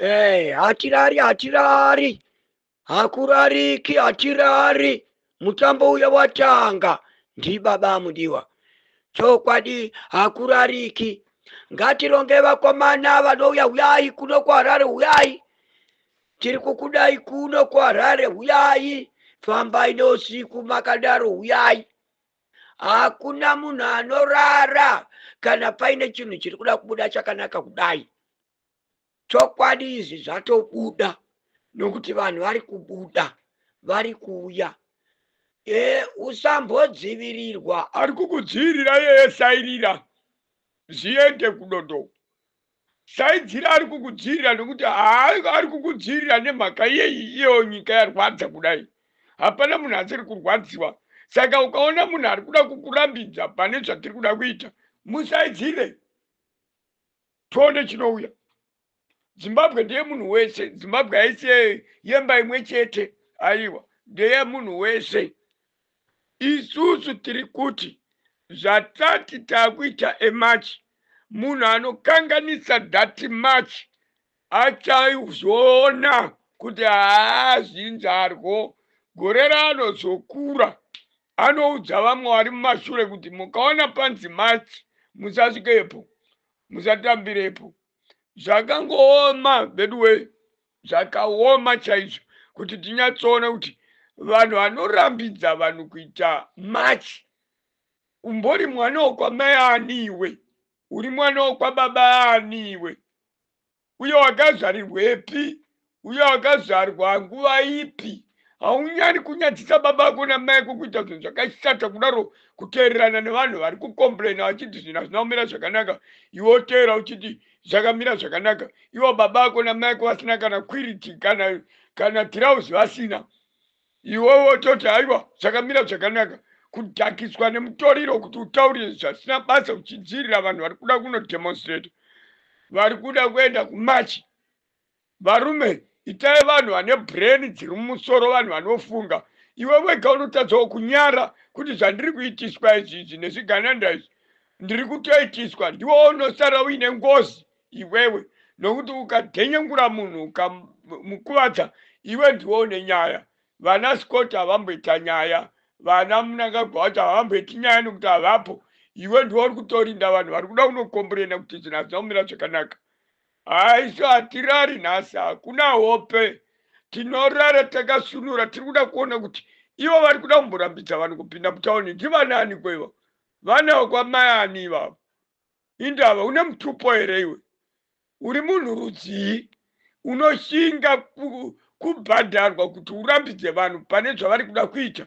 Eh, hatirari hatirari hakurariki hatirari mutambo uya watanga ndibaba amudiwa chokwadi hakurariki ngatironge vakomana vanouya huyai kuno kuharare huyai tiri kukudai kuno kuharare huyai fambai neusiku makadaro huyai hakuna munhu anorara kana paine chinhu chiri kuda kubuda chakanaka kudai chokwadi izvi zvatobuda nokuti vanhu vari kubuda vari kuuya e usambodzivirirwa ari kukudzivirira yeye sairira zviende kudodo saidzira ari kukudzivirira nokuti ari kukudzivirira nemhaka yeyi iyo nyika yarwadza kudai hapana munhu asiri kurwadziwa saka ukaona munhu ari kuda kukurambidza pane zvatiri kuda kuita musaidzire Tonde chinouya. Zimbabwe ndeye munhu wese. Zimbabwe haisi yemba imwe chete. Aiwa, ndeye munhu wese. Isusu tiri kuti zvatati takuita emarch munhu anokanganisa that march achazoona kuti haa zvinzarwo gore ranozokura Anoudza vamwe vari mumashure kuti mukaona panzi match musasvikepo, musatambirepo. Zvakangooma veduwee, zvakaoma chaizvo kuti tinyatsoona kuti vanhu vanorambidza vanhu kuita match. Umbori mwana wokwamai ani iwe? Uri mwana wokwababa ani iwe? uye wakazvarirwepi uye wakazvarwa nguva ipi haunyari kunyadzisa baba ako namai ako kuita zvinhu zvakashata kudaro kuteererana nevanhu vari kukomplaina vachiti zvinhu hazvina kumira zvakanaka iwe oteera uchiti zvakamira zvakanaka ivo baba ako namai ako vasina kana kwiriti kana kana tirauzi vasina Iwe wototi haiwa zvakamira zvakanaka kudhakiswa nemutoriro kuti utaurire zvasina basa uchidziirira vanhu vari kuda kunodemonstrate vari kuda kuenda kumachi varume itai vanhu vane brain dziri mumusoro vanhu vanofunga iwe wega unotadzawo kunyara kuti zvandiri kuitiswa izvi izvi nezvigananda izvi ndiri kutoitiswa ndiwo unosara uine ngozi iwewe nokuti ukadenyengura munhu ukamukuvadza iwe ndiwe une nyaya vana scott havamboita nyaya vana munangagwa wacho havamboiti nyaya nokuti havapo iwe ndiwe uri kutorinda vanhu vari kuda kunokomburena kuti zvinhu hazvina kumira zvakanaka haiso hatirari nhasi hakuna hope tinorara takasunura tiri kuda kuona kuti ivo vari kuda kumborambidza vanhu kupinda mutauni ndivanani kwevo vana vekwamayani ivavo indava une mutupo here iwe uri munhu rudzii unoshinga kubhadharwa kuti urambidze vanhu pane zvavari kuda kuita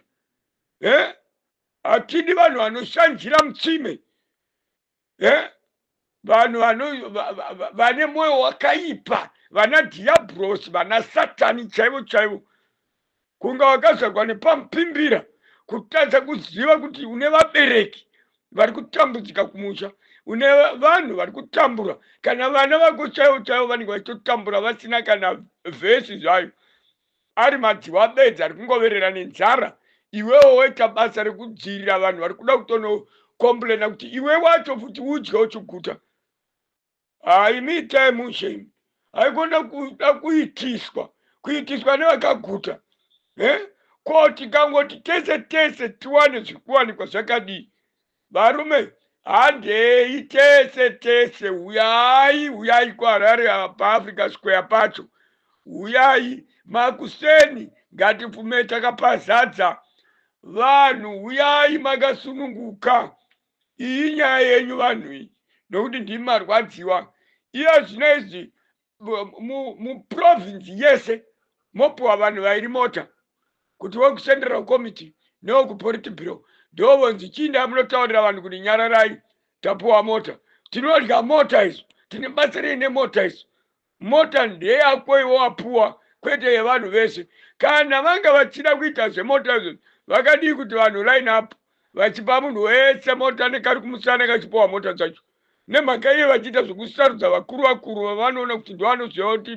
e hatidi vanhu vanoshanjira mutsime e vanhu vane mwoyo wakaipa vana dhiyabhurosi vana satani chaivo chaivo Kunga wakazvarwa nepamupimbira kutadza kuziva kuti une vabereki vari kutambudzika kumusha, une vanhu vari kutambura, kana vana vako chaivo chaivo vanenge vachitotambura vasina kana vhesi zvayo, ari madziwa bedzi ari kungoverera nenzara, iwewo woita basa rekudziirira vanhu vari kuda kutonokomburena kuti iwe wacho futi udye uchiguta. Ah, imi itai mushe imi. Haikona kuda kuitiswa, kuitiswa nevakaguta. Eh? Ko tikangoti tese tese tiwane zvikuwanikwa zvakadii? Varume, handei tese tese, huyai, huyai kuHarare paAfrica Square pacho. Huyai makuseni ngatipfume takapazadza vanhu, huyai makasununguka. iyi nyaya yenyu vanhu iyi nokuti ndimi marwadziwa iya zvino izvi muprovinsi yese mopiwa vanhu vairi mota kuti wekucenderal committee newekupolitibiro ndo vonzi chiinda munotaurira vanhu kuti nyararai tapiwa mota tinodya mota isu tine batsirei nemota isu Mota ndeyako iwe wapuwa kwete yevanhu vese. Kana vanga vachida kuita zvemota izvo vakadii kuti vanhu line up vachipa munhu wese mota nekari kumusana kachipuwa mota dzacho. Nemhaka iye vachiita zvekusarudza vakuru vakuru vavanoona kuti ndovanoziva kuti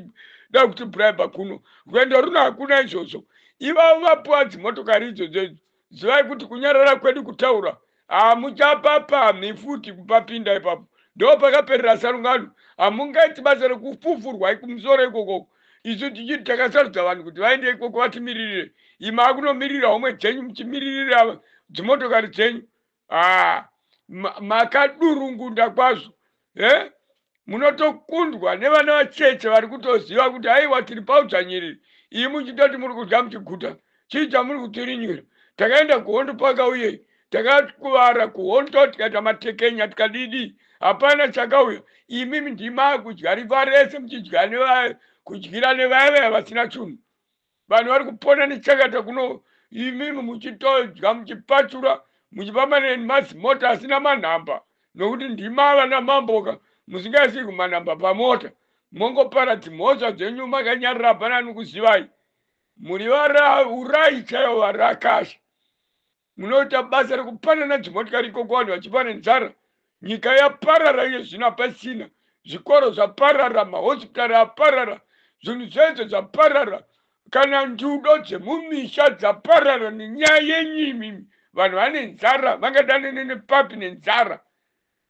da kuti bribe kuno. Rwendo runo hakuna izvozvo. Ivavo vapuwa dzimotokari idzodzo idzo zivai kuti kunyarara kwedu kutaura hamuchapapamhi futi kupapinda ipapo ndo pakaperera sarungano hamungaiti basa rekufufurwa ikumusoro ikoko isu tichiti takasarudza vanhu kuti vaende ikoko vatimiririre ima akunomirira homwe dzenyu muchimiririra dzimotokari dzenyu ah, makadurungunda kwazvo eh? munotokundwa nevana vacheche vari kutoziva kuti aiwa tiri paudzvanyiriri iyi muchitoti muri kudya muchiguta chii chamuri kutirinyura takaenda kuhondo paka uye takakuvara kuhondo tikaita matekenya tikadidi hapana chakauya imi ndima kudya riva rese muchidya kudyira nevaya vaya vasina chunhu vanhu vari kupona nechakata kuno imimi muchitodya muchipachura muchipa mane mazimota asina manhamba nokuti ndima vana mamboka musingaisi kumanhamba pamota mongopara dzimhosva dzenyu makanyarira hapana anokuzivai muri vara urai chaivo varakasha munoita basa rekupanana dzimotikari ikoko vanhu vachiva nenzara nyika yaparara iye zvino hapasina zvikoro zvaparara mahospitari aparara zvinhu zvese zvaparara kana njudo dzemumisha dzaparara nenyaya yenyu imimi vanhu vane nzara vangadanene nepapi nenzara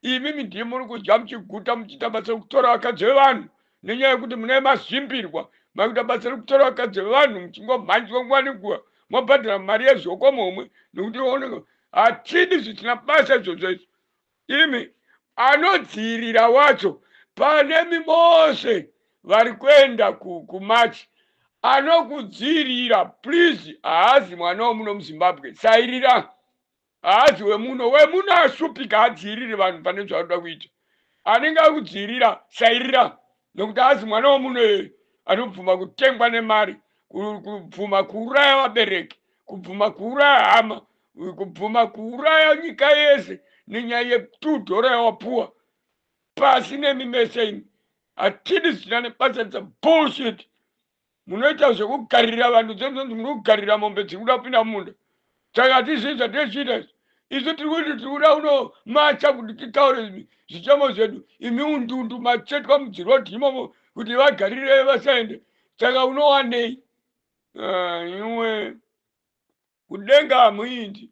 imimi ndiye muri kudya muchiguta muchiita basa rekutora vakadzi vevanhu nenyaya yekuti mune mazvimbirwa makuita basa rekutora vakadzi vevanhu muchingomhanjwa nguva nenguva mobhadhara mari yezvokomo homwe nekuti oneka hatidi zvisina basa izvozvo izvo imi anodziirira wacho pane mimose vari kuenda kumachi anokudziirira please haazi mwana womuno muzimbabwe sairira haazi wemuno wemuno ashupika hadziiriri vanhu pane zvaanoda kuita anenge akudziirira sairira nokuti haazi mwana wemuno iyoyo anobvuma kutengwa nemari kubvuma kuuraya vabereki kubvuma kuuraya hama kubvuma kuuraya nyika yese nenyaya yetu dhora yawapuwa pasi nemi mese imi hatidi zina nebasa dza bullshit munoita zvekukarira vanhu dzonzonzi muri kukarira mombe dziri kuda kupinda mumunda saka hatizii zvatiri chiita izvi isu tiri kuti tiri kuda kuno macha kuti titaure zvichemo zvedu imi undundu matsvetwa mudziroti imomo kuti vagarire vasaende saka unowanei ah, iwe kudenga hamuindi